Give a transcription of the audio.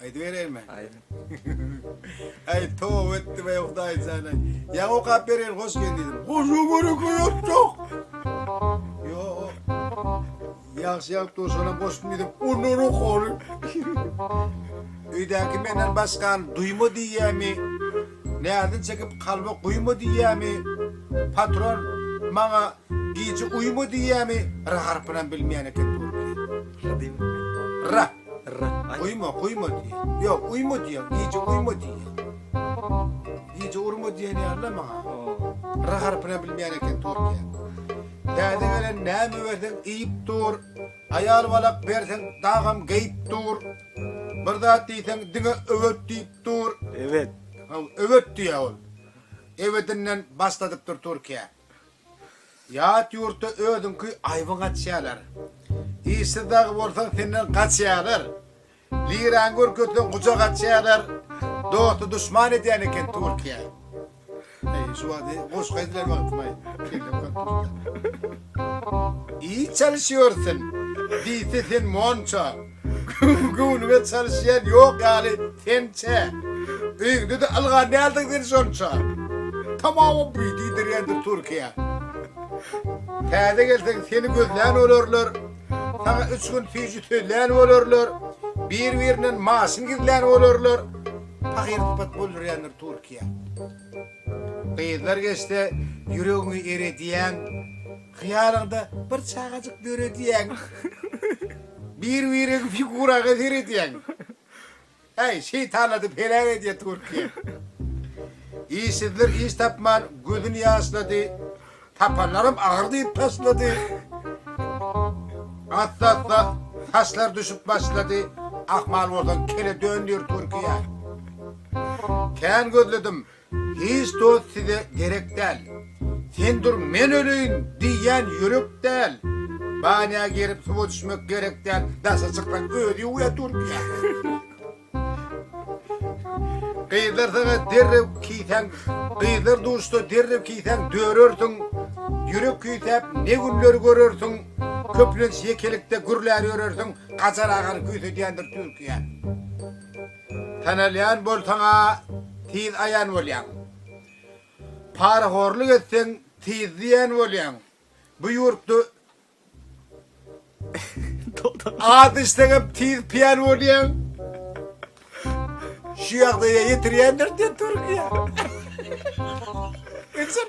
Aýdybereýinmi? Aýdyň. Aý, tow etdim aý Hudaý jana. Ýa okap bereýin, hoş geldiň. Goşu görüp ýok. Yo. Ýagşy ýalyp durşana goşup gidip, ondan okary. Öýdäki menden başgan duýma diýýämi? Närdin çekip kalba guýma diýýämi? Patron maňa gije uýma diýýämi? Ra harpynam bilmeýän eken. Ra. Uýma, guýma diýýär. Ýok, uýma diýýär. Gije uýma diýýär. Gije urma diýen ýaly-la maňa. R harpynam bilmeýän eken türkiýe. Täze gelen näme berseň iýip dur. Aýal balak berseň dagam geýip dur. Bir zat diýseň diňe öwet diýip dur. Öwet. Haw, öwet diýýär ol. Öwedinden başladypdyr türkiýe. Ýat ýurtda özüňki aýbyň açýarlar. Işsiz dagy bolsaň senden gaçýarlar. Liraňy görkezseň gujak açýarlar. Dosty duşman edýän eken Türkiýe. Eý, şu wagty goşgy aýdylýan wagtym-aý. Iý çalyşýarsyň. Diýse sen monça. Göwnüme çalyşýan ýok ýaly sen-çä. Öýüňde-de ylgan däldiň sen şonça. Tamawam buý diýdirýändir Türkiýe. Täze gelseň seni gözlän bolarlar. Saňa üç gün süýji sözlän bolarlar. Bir-birinden maşyn gizlän bolarlar. Pahyr sypat boldurýandyr Türkiýe. Gyzlar geçse ýüregiňi eredýäň, Hyýalyňda bir çagajyk döredýäň. Bir-biriň figuraňa seredýäň, Äý, şeýtanlady peläň edýä Türkiýe. Işsizler iş tapman gözüni ýaşlady. Tapanlarym agyr diýip taşlady. Assa-assa saçlar düşüp başlady. Ahmal bolsaň kele dön diýip görki ýaly. Kän gözledim. Hiç dost size gerek däl. Sen dur men öleýin diýýän ýürek däl. Banýa girip suwa düşmek gerek däl. Daşa çyksaň özi ýuwýar durki ýaly. Gyzlar saňa derrew kiýseň, gyzlar duşsa derrew kiýseň dörersiň. Ýürek küýsäp ne günler görersiň, köplenç ýekelikde gürlär ýörersiň, Gajar agany küýsedýändir Türkiýe. Tanalýan bolsaň-a tiz aýan bolýaň. Parahorlyk etseň tiz zyýan bolýaň. Bu ýurtda Az içseňem tiz piýan bolýaň. Şu ýagdaýa ýetirýändir diýen Türkiýe. Geçen